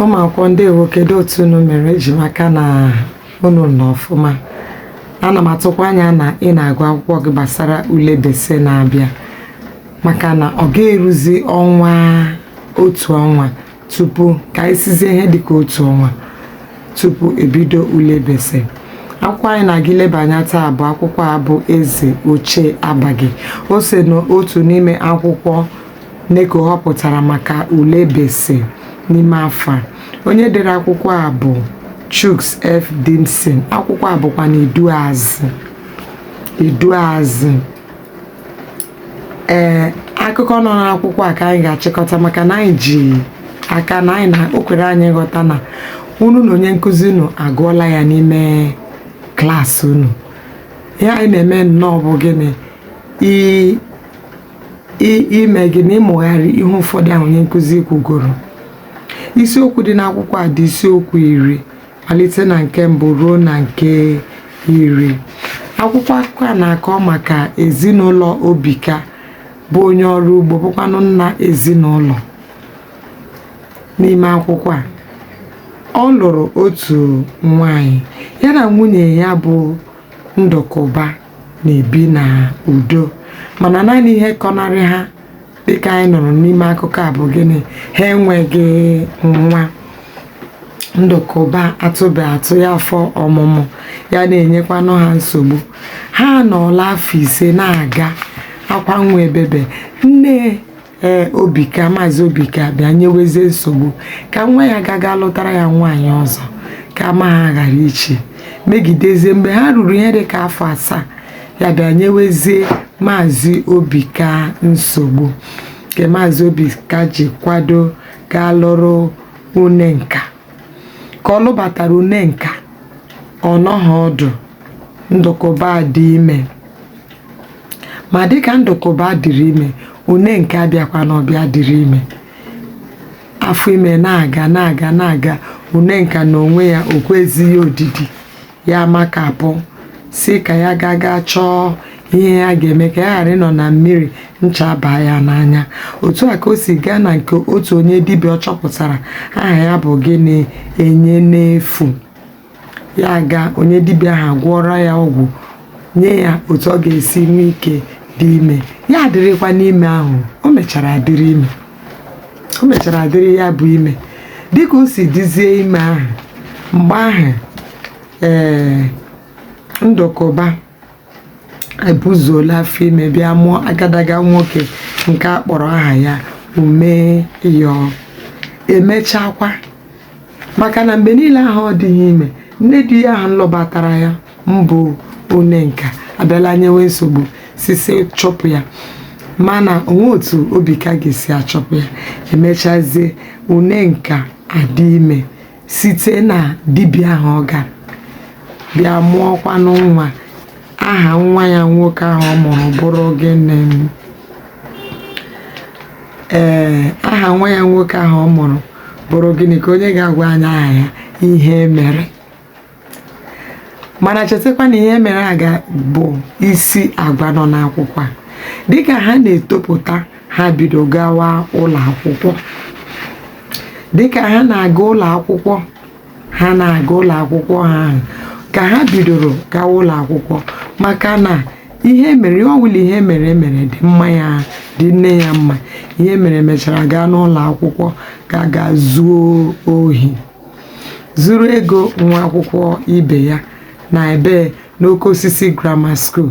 ụmụ akwụkwọ ndewo kedu otu unu mere eji m aka na unu nọ ọfụma ana m atụkwa anya na ị na-agụ akwụkwọ gị gbasara ule bese na-abịa maka na ọ ga-eruzi ọnwa otu ọnwa tupu ka anyị sịzie ihe dịka otu ọnwa tupu ebido ule bese akwụkwọ anyị na-aga ileba anya taa bụ akwụkwọ a bụ eze ochie abaghị o so n'otu n'ime akwụkwọ neko họpụtara maka ule bese n'ime afọ a onye dere akwụkwọ a bụ chuks f dimson akwụkwọ a bụkwanụ iduazị iduazị ee akụkọ nọ n'akwụkwọ a ka anyị ga-achịkọta maka na anyị ji aka na anyị na o kwere anyị nghọta na unu na onye nkụzi unu agụọla ya n'ime klaasị unu ihe anyị na-eme nnọọ bụ gịnị i- i- ime gịnị ịmụgharị ihe ụfọdụ ahụ onye nkụzi kwugoro isiokwu dị n'akwụkwọ a dị isiokwu iri malite na nke mbụ ruo na nke iri akwụkwọ akụkọ a na-akọ maka ezinụlọ Obika bụ onye ọrụ ugbo bụkwanụ nna ezinụlọ n'ime akwụkwọ a ọ lụrụ otu nwanyị ya na nwunye ya bụ Ndụkụba na-ebi na udo mana naanị ihe kọnarị ha dịka anyị nụrụ n'ime akụkọ a bụ gịnị ha enweghị nwa ndụkụba atụbe atụ ya afọ ọmụmụ ya na-enyekwanụ ha nsogbu ha nọọla afọ ise na-aga akwa nwa ebebe nne ee obika maazị obika bịa nyewezie nsogbu ka nwa ya gaga lụtara ya nwaanyị ọzọ ka ama ha ghara ichi megidezie mgbe ha ruru ihe dị ka afọ asaa ya bịa nyewezie maazị obika nsogbu nke maazị obika ji kwado gaa lụrụ unenka ka ọ lụbatara unenka ọ nọghị ọdụ ndụkụba dị ime ma dịka ndụkụba dịrị ime unenka abịakwanụ bịa dịrị ime afọ ime na-aga na-aga na-aga unenka na onwe ya o kwezighị odidi ya amakapụ sị ka ya gaa gaa chọọ ihe ya ga-eme ka ya ghara ịnọ na mmiri ncha abaa ya n'anya otu a ka o si gaa na nke otu onye dibịa ọ chọpụtara aha ya bụ gịnị enye n'efu ya aga onye dibịa ahụ gwọrọ ya ọgwụ nye ya otu ọ ga-esi nwee ike dị ime ya adịrịkwanụ ime ahụ o mechara dịrị ime o mechara dịrị ya bụ ime dịka o si dịzie ime ahụ mgbe ahụ ee ndụkụba ebuzuola afọ ime bịa mụọ agadaga nwoke nke a kpọrọ aha ya umeyọ emechakwa maka na mgbe niile ahụ ọ dịghị ime nne di ya ahụ nlụbatara ya mbụ unenka abịala nyewe nsogbu sị sị chụpụ ya mana o nweghị otu obika ga-esi achụpụ ya emechazie unenka adị ime site na dibịa ahụ ọ gara bịa mụọkwanụ nwa Aha nwa ya nwoke ahụ ọ mụrụ bụrụ gịnị? Ee, aha nwa ya nwoke ahụ ọ mụrụ bụrụ gịnị ka onye ga-agwa anyị aha ya Ihemere mana chetakwa na Ihemere a ka bụ isi agwa nọ n'akwụkwọ a dịka ha na-etopụta ha bido gawa ụlọ akwụkwọ dịka ha na-aga ụlọ akwụkwọ ha na-aga ụlọ akwụkwọ ha ahụ ka ha bidoro gawa ụlọ akwụkwọ maka na ihemere ihe ọ bụla ihemere mere dị mma ya dị nne ya mma ihemere mechara gaa n'ụlọ akwụkwọ ka ga zuo ohi zuru ego nwa akwụkwọ ibe ya na ebee n'oke osisi grammar school